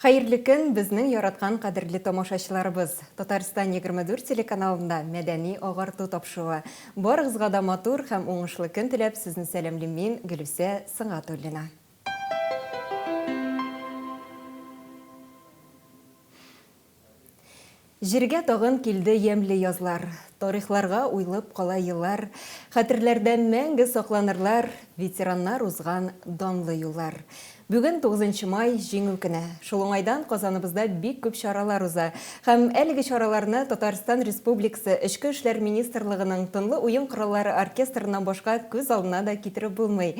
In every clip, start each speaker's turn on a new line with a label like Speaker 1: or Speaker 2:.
Speaker 1: Хәерле көн, безнең яраткан кадерле тамашачыларыбыз! Татарстан 24 телеканалында мәдәни агарту тапшыруы. Барыгызга да матур һәм уңышлы көн теләп, сезне сәламлим мин, Гөлүсә Сынгатуллина. Җиргә тагын килде ямьле язлар, Тарихларга уйлып кала еллар, Хәтерләрдә мәңге сакланырлар Ветераннар узган данлы юллар. Бүген, 9 май, Җиңү көне. Шул уңайдан Казаныбызда бик күп чаралар уза. Һәм әлеге чараларны Татарстан Республикасы Эчке эшләр министрлыгының Тынлы уен кораллары оркестрыннан башка күз алдына да китереп булмый.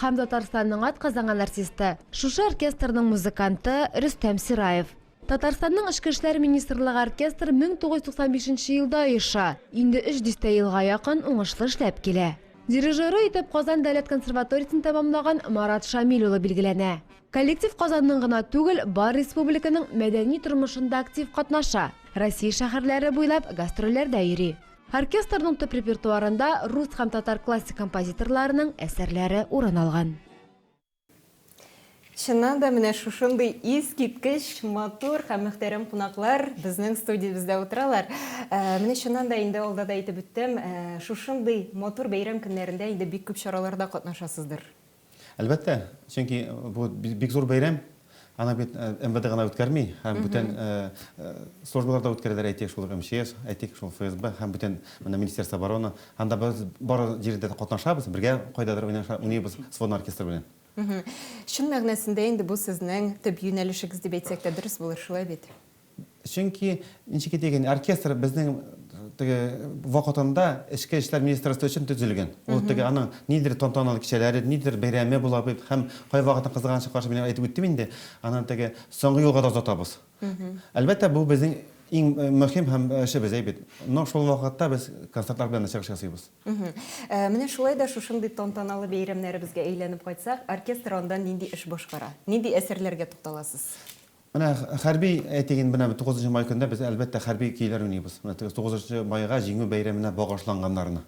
Speaker 2: Һәм Татарстанның атказанган артисты, шушы оркестрның музыканты Рөстәм Сираев. Татарстанның Эчке эшләр министрлыгы оркестр 1995 нче елда оеша, инде өч дистә елга якын уңышлы эшләп килә. Дирижеры итеп Казан дәүләт консерваториясен тәмамлаган Марат Шамил улы билгеләнә. Коллектив Казанның гына түгел, бар республиканың мәдәни тормышында актив катнаша, Россия шәһәрләре буйлап гастрольләрдә йөри. Оркестрның төп репертуарында рус һәм татар классик композиторларының әсәрләре урын алган.
Speaker 1: Чыннан да, менә шушындый искиткеч матур һәм мөхтәрәм кунаклар безнең студиябездә утыралар. Ә, менә чыннан да инде алда да әйтеп үттем, ә, шушындый матур бәйрәм көннәрендә инде бик күп чараларда катнашасыздыр. Әлбәттә,
Speaker 3: чөнки бу бик зур бәйрәм. Аны бит МВД гына үткәрми, һәм бүтән службалар да үткәрәләр, әйтик, шул ук МЧС, әйтик, шул ФСБ һәм бүтән менә Министерство обороны. Анда без бар җирдә дә катнашабыз, бергә кайдадыр уйныйбыз сводный оркестр белән. Чын
Speaker 1: мәгънәсендә инде бу сезнең төп юнәлешегез дип әйтсәк тә дөрес булыр, шулай бит? Чөнки,
Speaker 3: ничек әйтик инде, оркестр безнең теге вакытында эчке эшләр министерствы өчен төзелгән. Ул теге аның нидер тантаналы кичәләре, нидер бәйрәме була бит һәм кайвакытын кызганыч каршы мин әйтеп үттем инде, аны теге соңгы юлга да озатабыз. Әлбәттә, бу безнең иң мөһим һәм эшебез әй бит. Но шул вакытта без концертлар белән дә чыгыш ясыйбыз. Менә
Speaker 1: шулай да шушындый тантаналы бәйрәмнәребезгә әйләнеп кайтсак, оркестр анда нинди эш башкара? Нинди әсәрләргә тукталасыз? Менә
Speaker 3: хәрби әйтик инде, менә бу тугызынчы май көнендә без, әлбәттә, хәрби көйләр уйныйбыз. Менә теге тугызынчы майга, Җиңү бәйрәменә багышланганнарны.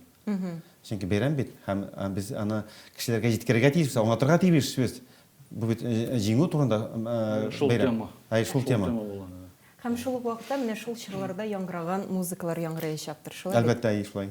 Speaker 3: Чөнки бәйрәм бит, һәм без аны кешеләргә җиткерергә тиешбез, аңлатырга тиешбез. Бу бит Җиңү турында бәйрәм. Шул тема. Әй, шул тема. Һәм шул
Speaker 1: ук вакытта менә шул чорларда яңгыраган музыкалар яңгыраячактыр, шулай бит? Әлбәттә, әй, шулай.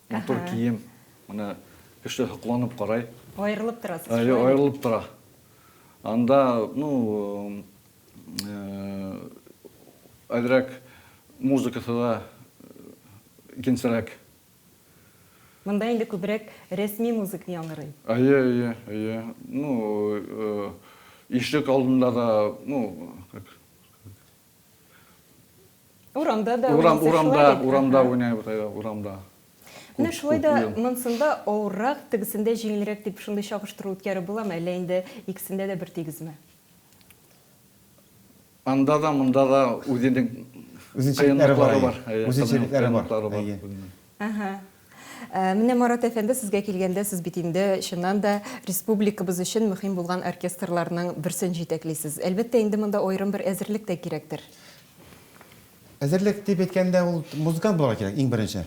Speaker 4: Матур кием. Менә кеше һокланып карай. Аерылып торасыз.
Speaker 1: Аерылып тора.
Speaker 4: Анда, ну, әзрәк музыкасы да икенчерәк.
Speaker 1: Монда инде күбрәк рәсми музык яңгырый. Әйе, әйе, әйе. Ну,
Speaker 4: ишек алдында да, ну, как Урамда да Урам, урамда, урамда уйнайбыз, әйе, урамда. Менә шулай
Speaker 1: да монсында авыррак, тегесендә җиңелрәк дип шундый чагыштыру үткәреп буламы, әллә инде икесендә дә бер тигезме?
Speaker 4: Анда да, монда да үзенең үзенчәлекләре
Speaker 3: бар. Үзенчәлекләре бар.
Speaker 1: Менә Марат әфәнде сезгә килгәндә, сез бит инде, чыннан да, республикабыз өчен мөхим булган оркестрларның берсен җитәклисез. Әлбәттә, инде монда аерым бер әзерлек тә кирәктер.
Speaker 3: Әзерлек дип әйткәндә, ул музыкант булырга кирәк, иң беренче.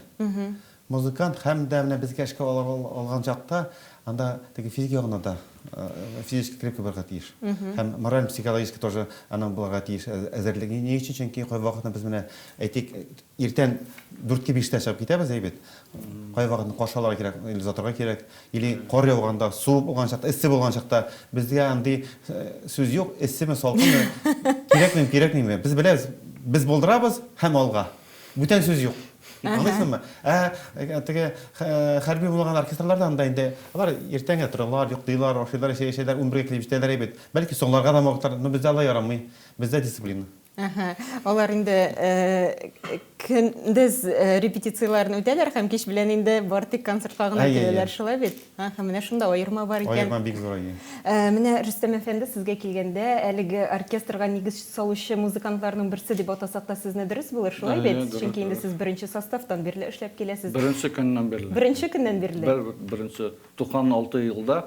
Speaker 3: Музыкант һәм дә менә безгә эшкә алган чакта, анда теге физик ягына да физически крепкий булырга тиеш. Һәм мораль-психологически тоже аның булырга тиеш әзерлеге. Ни өчен? Чөнки кайбер вакытта без менә, әйтик, Иртән дүртке биштә чыгып китәбез, әйбәт. Кайвакытны каршы алырга кирәк, или озатырга кирәк, или кар яуганда, суык булган чакта, эссе булган чакта безгә андый э, сүз юк, эссеме, салкынмы, кирәкмим, кирәкмиме. Без беләбез, без булдырабыз һәм алга. Бүтән сүз юк. Аңлыйсыңмы? Ә э, теге хә- хәрби булмаган оркестрларда анда инде алар иртәнгә торалар, йоклыйлар, ашыйлар, чәй эчәләр, унбергә килеп җитәләр әйбәт. Бәлки соңларга да мавыктылар, но бездә алай ярамый. Бездә дисциплина. Алар
Speaker 1: инде көндез репетицияләрен үтәләр һәм кич белән инде бар тик концертка гына киләләр, шулай бит? Менә шунда аерма бар икән. Аерма бик зур, әйе.
Speaker 3: Менә, Рөстәм
Speaker 1: әфәнде, сезгә килгәндә, әлеге оркестрга нигез салучы музыкантларның берсе дип атасак та сезне дөрес булыр, шулай бит? Чөнки инде сез беренче составтан бирле эшләп киләсез. Беренче көннән бирле.
Speaker 4: Беренче көннән бирле.
Speaker 1: Беренче
Speaker 4: 96 елда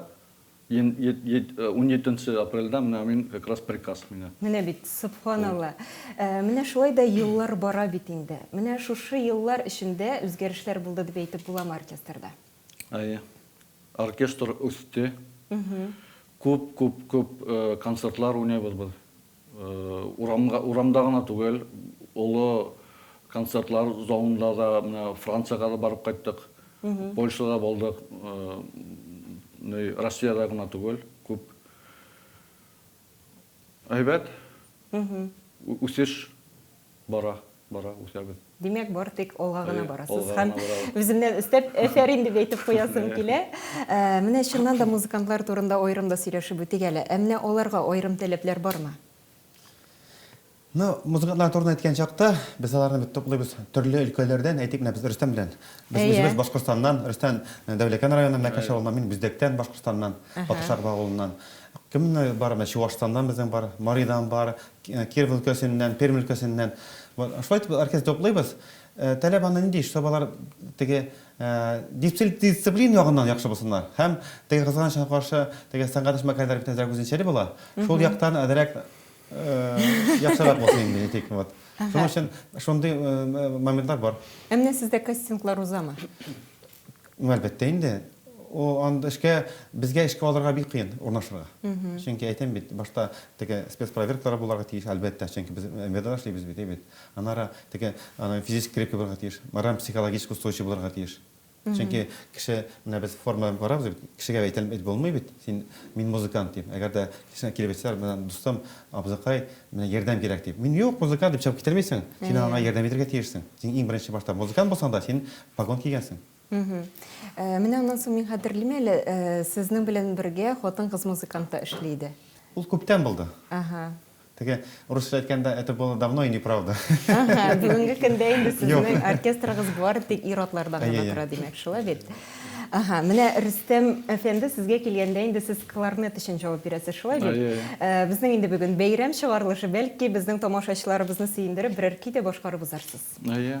Speaker 4: Унҗиденче апрельдә менә мин как раз приказ миңа. Менә бит, сөбханалла.
Speaker 1: Менә шулай да еллар бара бит инде. Менә шушы еллар эчендә үзгәрешләр булды дип әйтеп буламы оркестрда? Әйе. Оркестр
Speaker 4: үсте. Күп, күп, күп концертлар уйныйбыз без. Урамга, урамда гына түгел, олы концертлар залында да, менә Франциягә дә барып кайттык, Польшада булдык, ни, Россиядә гына түгел, күп. Әйбәт. Үсеш. Бара, бара, үсәбез. Димәк, бары тик
Speaker 1: алга гына барасыз һәм үземнән өстәп әфәрин дип әйтеп куясым килә. Менә чыннан да музыкантлар турында аерым да сөйләшеп үтик әле. Ә менә аларга аерым таләпләр бармы? Ну,
Speaker 3: музыкантлар турында әйткән чакта, без аларны бит туплыйбыз төрле өлкәләрдән, әйтик, менә без Рөстәм белән. Без үзебез Башкортстаннан, Рөстәм Дәүләкән районы, менә Кәшә авылыннан, мин Бүздәктән, Башкортстаннан, Батыршагов авылыннан. Кемнәр бар, менә Чуашстаннан безнең бар, Маридан бар, Киров өлкәсеннән, Пермь өлкәсеннән. Шулай итеп оркестр туплыйбыз. Таләп аны нинди, чтобы алар теге дисциплин ягыннан яхшы булсыннар. Һәм теге кызганычка каршы, теге сәнгать эшмәкәрләре бит әзрәк үзенчәли була. Шул яктан әзрәк яхшырак булсын инде, әйтик. Шуның өчен шундый моментлар бар. Ә менә сездә
Speaker 1: кастинглар узамы? Ну,
Speaker 3: әлбәттә инде. О, анда эшкә, безгә эшкә алырга бик кыен урнашырга. Чөнки әйтәм бит, башта теге спецпроверкалар булырга тиеш, әлбәттә, чөнки без МВДда эшлибез бит, әйбәт. Аннары теге аны физически крепкий булырга тиеш, мораль-психологически устойчив булырга тиеш. Чөнки кеше, менә без форма белән карабыз бит, кешегә әйтелеп әйтеп булмый бит, син, мин музыкант дип. Әгәр дә кешегә килеп әйтсәләр, менә дустым, абзыкай, менә ярдәм кирәк дип. Мин, юк, музыкант дип чыгып китәрмисең. Син аңа ярдәм итәргә тиешсең. Син иң беренче башта музыкант булсаң да, син Погон кигәнсең? Мхм.
Speaker 1: Менә аннан соң мин хәтерлим әле, сезнең белән бергә хатын-кыз музыкант та эшли иде. Ул күптән булды.
Speaker 3: Аһа. Теге, урысча әйткәндә, это было давно и неправда. Аһа, бүгенге
Speaker 1: көндә инде сезнең оркестрыгыз бары тик ир-атлардан гына тора, димәк, шулай бит? Аһа, менә Рөстәм әфәнде, сезгә килгәндә инде сез кларнет өчен җавап бирәсез, шулай бит? Безнең инде бүген бәйрәм чыгарылышы, бәлки безнең тамашачыларыбызны сөендереп берәр көй дә башкарып узарсыз? Әйе.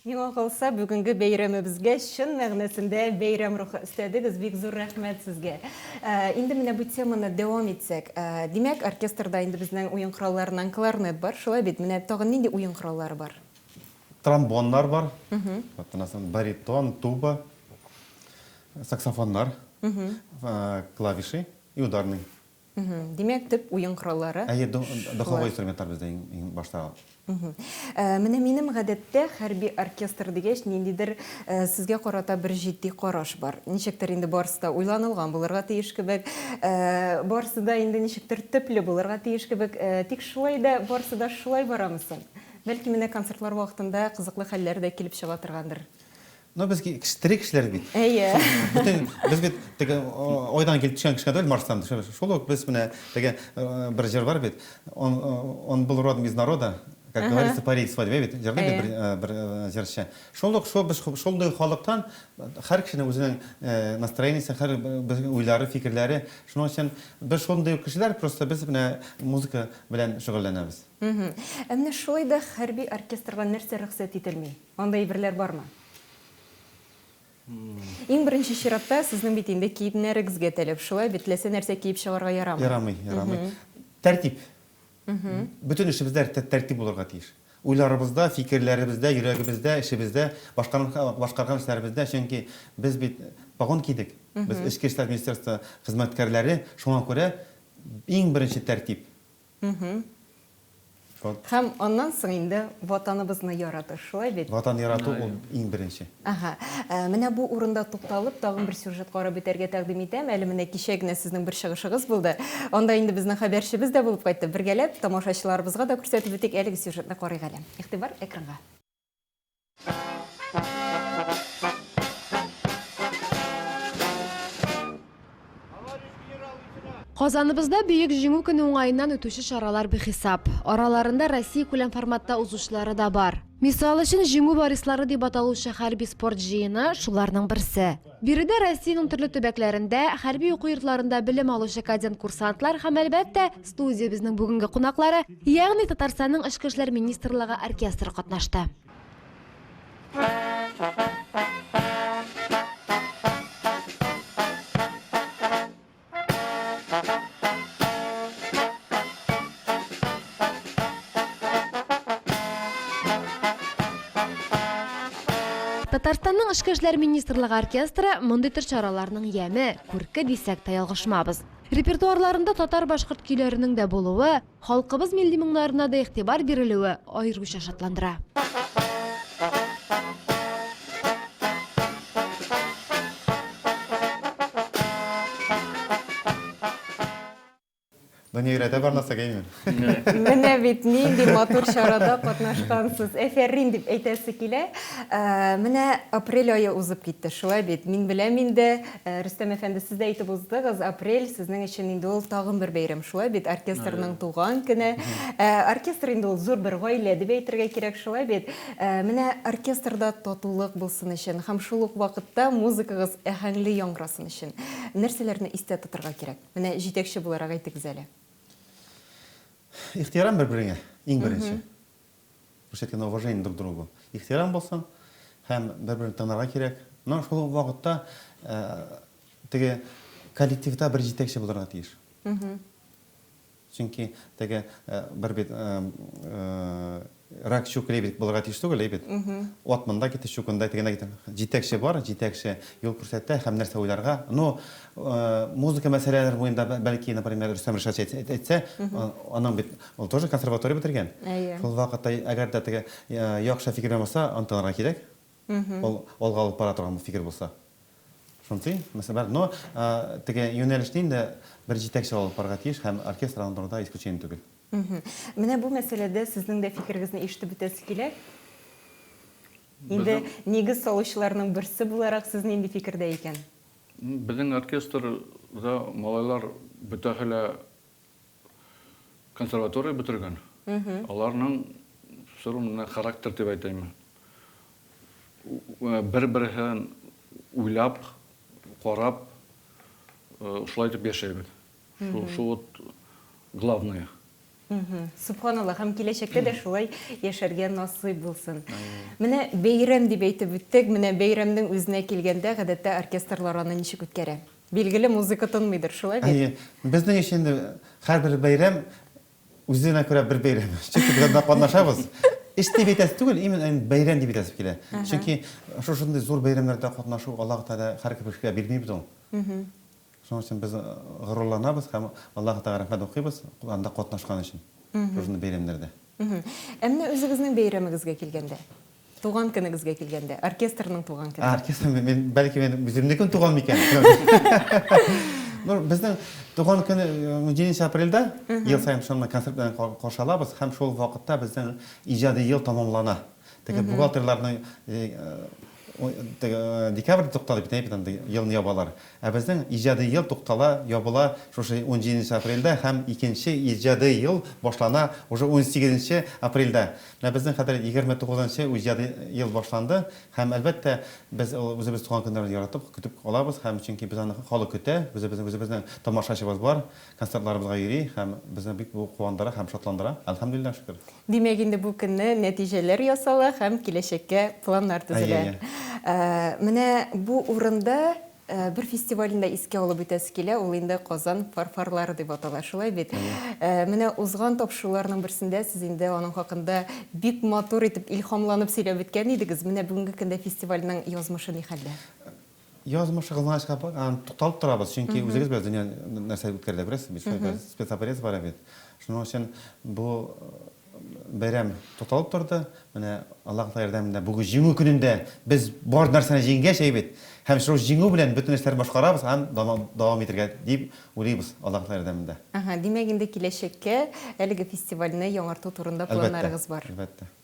Speaker 1: Миңа калса, бүгенге бәйрәмебезгә чын мәгънәсендә бәйрәм рухы өстәдегез, бик зур рәхмәт сезгә. Ә, инде менә бу теманы дәвам итсәк, ә, димәк, оркестрда инде безнең уен коралларыннан кларнет бар, шулай бит? Менә тагын нинди уен кораллары бар? Тромбоннар
Speaker 3: бар, вот аннан соң баритон, туба, саксофоннар, клавиши и ударный. Мхм. Димәк,
Speaker 1: төп уен кораллары Әйе, до шулар. духовой
Speaker 3: инструментлар бездә иң иң башта ул. Мхм. Ә,
Speaker 1: менә минем гадәттә хәрби оркестр дигәч, ниндидер, ә, сезгә карата бер җитди караш бар. Ничектер инде барысы да уйланылган булырга тиеш кебек, ә, барысы да инде ничектер төпле булырга тиеш кебек. Ә, тик шулай да барысы да шулай барамы соң? Бәлки менә концертлар вакытында кызыклы хәлләр дә килеп чыга торгандыр? Ну без
Speaker 3: тере кешеләр бит. Әйе. Бөтен
Speaker 1: без бит
Speaker 3: теге айдан килеп төшкән кешеләр түгел Марстан. Шул ук без менә теге бер җыр бар бит. Он он был родом из народа, как говорится, парит свадьбе бит. Җырлый бит бер бер җырчы. Шул ук шул без шундый халыктан һәр кешенең үзенең настроениесе, һәр уйлары, фикерләре. Шуның өчен без шундый ук кешеләр, просто без менә музыка белән шөгыльләнәбез. Әмма
Speaker 1: шулай да хәрби оркестрга нәрсә рөхсәт ителми? Анда әйберләр бармы? Иң беренче чиратта, сезнең бит инде киемнәрегезгә тәләп шулай бит, теләсә нәрсә киеп чыгарга ярамый. Ярамый, ярамый.
Speaker 3: Тәртип. Бөтен эшебездә тәртип булырга тиеш. Уйларыбызда, фикерләребездә, йөрәгебездә, эшебездә, башкарган эшләребездә, чөнки без бит погон кидек. Без эчке эшләр министерство хезмәткәрләре, шуңа күрә иң беренче тәртип.
Speaker 1: Һәм аннан соң инде Ватаныбызны ярату, шулай бит? Ватан ярату ул
Speaker 3: иң беренче. Әһә.
Speaker 1: Менә бу урында тукталып, тагын бер сюжет карап үтәргә тәкъдим итәм. Әле менә кичә генә сезнең бер чыгышыгыз булды. Анда инде безнең хәбәрчебез дә булып кайтты. Бергәләп тамашачыларыбызга да күрсәтеп үтик, әлеге сюжетны карыйк әле. Игътибар, экранга.
Speaker 2: Казаныбызда Бөек Җиңү көне уңаеннан үтүче чаралар бихисап. Араларында Россия күләм форматта узучылары да бар. Мисал өчен, Җиңү варислары дип аталучы хәрби спорт җыены шуларның берсе. Биредә Россиянең төрле төбәкләрендә, хәрби уку йортларында белем алучы кадет-курсантлар һәм, әлбәттә, студиябезнең бүгенге кунаклары, ягъни Татарстанның Эчке эшләр министрлыгы оркестры катнашты. Татарстанның эчке эшләр министрлыгы оркестры мондый төр чараларның яме, күрке дисәк тә ялгышмабыз. Репертуарларында татар-башкорт көйләренең дә булуы, Халкыбыз милли моңнарына да игътибар бирелүе аеруча шатландыра.
Speaker 3: Дания өйрәтә бар нәрсә геймер. Менә
Speaker 1: бит нинди матур чарада катнашкансыз. Әфәрин дип әйтәсе килә. Менә апрель ае узып китте, шулай бит. Мин беләм инде, Э, Рөстәм әфәнде, сез дә әйтеп уздыгыз, апрель сезнең өчен инде ул тагын бер бәйрәм, шулай бит, оркестрның туган көне. Э, Оркестр инде ул зур бер гаилә дип әйтергә кирәк, шулай бит. Э, Менә оркестрда татулык булсын өчен һәм шул ук вакытта музыкагыз әһәңле яңгырасын өчен нәрсәләрне истә тотырга кирәк? Менә җитәкче буларак әйтегез әле. Ихтирам
Speaker 3: бер-береңә, иң беренче. Күрсәткәндә уважение друг другу, ихтирам булсын һәм бер-береңне танырга кирәк. Но шул ук вакытта теге коллективта бер җитәкче булырга тиеш. Чөнки теге бер бит рак чук лебедь булырга тиеш түгел, әйбит. Ат монда китте, чук анда китте, китте. Җитәкче бар, җитәкче юл күрсәтә һәм нәрсә уйларга. Ну, музыка мәсьәләләре буенда бәлки, например, Рөстәм Ришатович әйтсә, аның бит Ул тоже консерватория бетергән. Әйе. Шул вакытта, әгәр дә теге яхшы фикер белән булса, антыларга кирәк. Ул алга алып бара торган фикер булса. Шунсы, мәсәлән, но теге юнәлешне инде бер җитәкче алып барырга тиеш һәм оркестр алып баруда исключение түгел. Менә бу
Speaker 1: мәсьәләдә сезнең дә фикерегезне ишетеп үтәсе килә. Инде нигез салучыларның берсе буларак, сез нинди фикердә икән? Безнең
Speaker 4: оркестрда малайлар бөтәһе лә консерватория бетергән. Аларның сору менә характер дип әйтәйме. Бер-берсен уйлап, карап, шулай итеп яшәйбез. Шул вот главное.
Speaker 1: Субханаллах, һәм киләчәктә дә шулай яшәргә насыйп булсын. Менә бәйрәм дип әйтеп үттек, менә бәйрәмнең үзенә килгәндә, гадәттә оркестрлар аны ничек үткәрә? Билгеле, музыка тынмыйдыр, шулай бит? Әйе. Безнең өчен инде
Speaker 3: һәрбер бәйрәм үзенә күрә бер бәйрәм. Чөнки без анда катнашабыз. Эш дип әйтәсе түгел, именно бәйрәм дип әйтәсе килә. Чөнки шушындый зур бәйрәмнәрдә катнашу Аллаһы Тәгалә һәркем кешегә бирми бит ул. Шуның өчен без горурланабыз һәм Аллаһы Тәгаләгә рәхмәт укыйбыз анда катнашкан өчен, шушындый бәйрәмнәрдә. Ә менә
Speaker 1: үзегезнең бәйрәмегезгә килгәндә, туган көнегезгә килгәндә, оркестрның туган көне. Оркестр, мин, бәлки
Speaker 3: мен үземнекен туган микән? Безнең туган көне 17 апрельдә ел саен шуны концерт белән каршы алабыз һәм шул вакытта безнең иҗади ел тәмамлана. Теге бухгалтерларның декабрьдә туктады бит, әйбит анда елны ябалар. Ә безнең иҗади ел туктала, ябыла шушы 17 нче апрельдә һәм икенче иҗади ел башлана уже 18 нче апрельдә. Менә безнең хәзер 29 нчы иҗади ел башланды һәм, әлбәттә, без үзебез туган көннәрне яратып, көтеп алабыз һәм чөнки без аны халык көтә, үзебезнең үзебезнең тамашачыбыз бар, Концертларыбызга йөри һәм безне бик бу куандыра һәм шатландыра, әлхәмдүлилләһ шөкер. Димәк инде бу көнне
Speaker 1: нәтиҗәләр ясала һәм киләчәккә планнар төзелә. Әйе, әйе. Менә бу урында бер фестивальне дә искә алып үтәсе килә, ул инде Казан фарфорлары дип атала, шулай бит? Әйе. Менә узган тапшыруларның берсендә сез инде аның хакында бик матур итеп, илһамланып сөйләп үткән идегез. Менә бүгенге көндә фестивальнең язмышы ни хәлдә? Язмышыгызны
Speaker 3: ачкап, аны тукталып торабыз, чөнки үзегез беләсез, дөнья нәрсә үткәрелә, күрәсез бит, хәзер спецоперация бара бит. Шуның өчен бу бәйрәм тукталып торды. Менә Аллаһ Тәгалә ярдәмендә бүген Җиңү көнендә без бар нәрсәне җиңгәч, әйе бит? Һәм шул Җиңү белән бөтен эшләрне башкарабыз һәм дәвам итәргә дип уйлыйбыз, Аллаһ Тәгалә ярдәмендә. Әһә, димәк, инде
Speaker 1: киләчәккә әлеге фестивальне яңарту турында планнарыгыз бар. Әлбәттә, әлбәттә.